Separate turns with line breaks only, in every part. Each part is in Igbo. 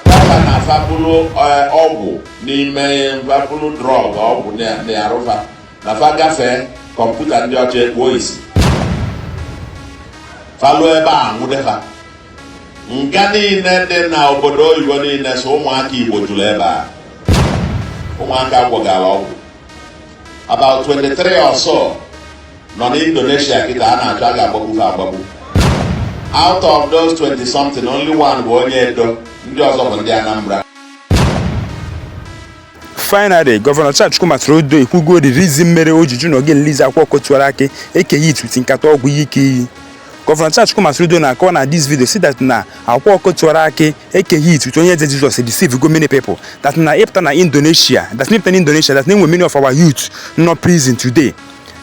Dat na fa buru eh, ọgwụ n'ime fa buru drọg ọgwụ n'arụ fa na fa gafee kọmputa ndị ọcha ekpuo isi fa lue ebe a nwụde fa nga niile dị na obodo oyibo niile sọ ụmụaka Igbo juru ebe a ụmụaka gwọgara ọgwụ about 23 or so nọ n'Indonesia kịta a na-achọ a ga-agbagbu fa agbagbu out of those 20 something only one bụ onye Edo ndị
ọzọ bụ ndị Anambra finally gọvanọ Charles Chukwuma Soludo ekwugo the reason mere o ji jụ na ọ ga-release Akwa Ọkụkọ Tiwara Akị Eke Hit uti nkata ọgwụ ihe ike iyi gọvanọ Charles Chukwuma Soludo na-akọwa na this video sị that na Akwa Ọkụkọ Tiwara Akị Eke Hit uti Onye Eze Jizọs deceive go many people that na ị pụta na Indonesia that na ị pụta na Indonesia that na e nwe many of our youth nọ prison today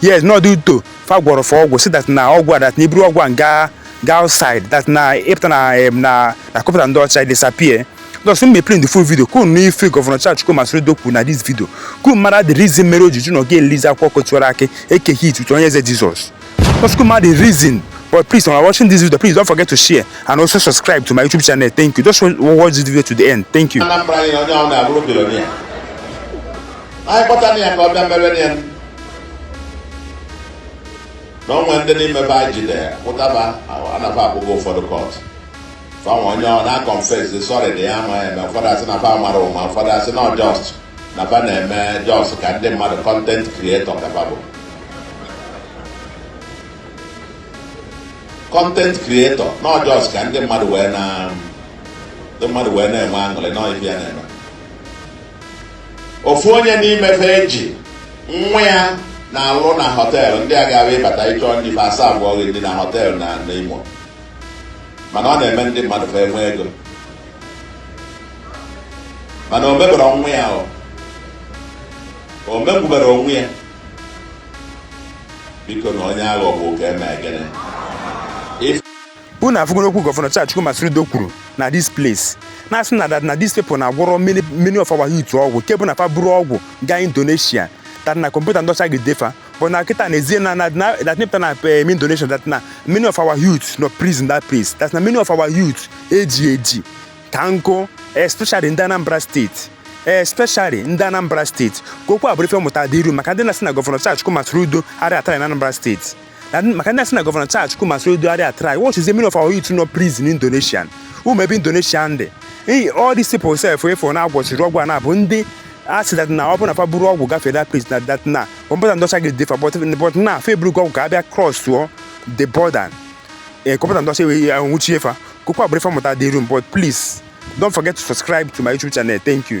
yes n'ọ due to fa gwọrọ fa ọgwụ sị dat na ọgwụ a dat na i buru ọgwụ a gaa gaa outside dat na ị pụta na em, na na kọmputa ndị ọcha disappear Thus, me play the full video. Ka unu nụ ife Governor Charles Chukwuma Soludo kwu na this video. Ka unu mara the reason mere o ji jụ na ọ ga-release Akwa Ọkụkọ Tiwara Akị Eke Hit uche Onye Eze Jesus. Thus, ka unu mara the reason. But please, when you are watching this video, please don't forget to share and also subscribe to my YouTube channel. Thank you. Just wa- watch this video to the end. Thank you. Anambra anyị na onye ahụ na-abụrụ bilionia anyị kpọtara ya ka ọ bịa mere
ya na o nwe ndị n'ime be anyị jide ya pụtaba na fa akpụgo ụfọdụ kọt fa nwe onye ọ na-akọnfes sọrị dị ya ama eme ụfọdụ asị na fa mara ụma ụfọdụ asị na ọ jọst na fa na-eme jọs ka ndị mmadụ kọntent krietọ ka fa bụ kọntent krietọ na ọ jọs ka ndị mmadụ wee na ndị mmadụ wee na-enwe aṅụrị na ife ya na-eme ofu onye n'ime fa e ji nwa ya na-alụ na họteelụ ndị a ga-abụ ị bata ị chọọ nri fa asavụọ gị nri na họteelụ na Nimo mana ọ na-eme ndị mmadụ fa enwe ego mana o meberọ nwa ya o megbubere onwe ya biko na onye aghọgbu ka e me gịnị
unu afụgoro okwu gọvanọ Charles Chukwuma Soludo kwuru na this place na-asị na that na this people na-agwọrọ many many of our youth ọgwụ nke bụ na fa buru ọgwụ gaa Indonesia that na kọmputa ndị ọcha ejide fa but na kịta na ezie na na na- that na ị pụta na em Indonesia that na many of our youth nọ prison that place that na many of our youth e ji eji ka nkụ especially ndị Anambra steeti especially ndị Anambra steeti ka okwu a bụrụ ife mmụta dị iru maka ndị na-asị na gọvanọ Charles Chukwuma Soludo arịa atara na Anambra steeti And maka ndị na-asị na gọvanọ Charles Chukwuma Soludo arịa a-try what is the many of our youth nọ prison in Indonesia ụmụ ebe Indonesia ndị Hey, all these people self afụ na-agwọchiri ọgwụ a na-abụ ndị asị that na ọ bụrụ na fa buru ọgwụ gafee that place na that na kọmputa ndị ọcha ga-edefa but but na fa eburugo ọgwụ ka abịa cross tụọ the border ee kọmputa ndị ọcha wee nwụchie fa kụkwa bụrụ fa mụta dị room but please don't forget to subscribe to my youtube channel thank you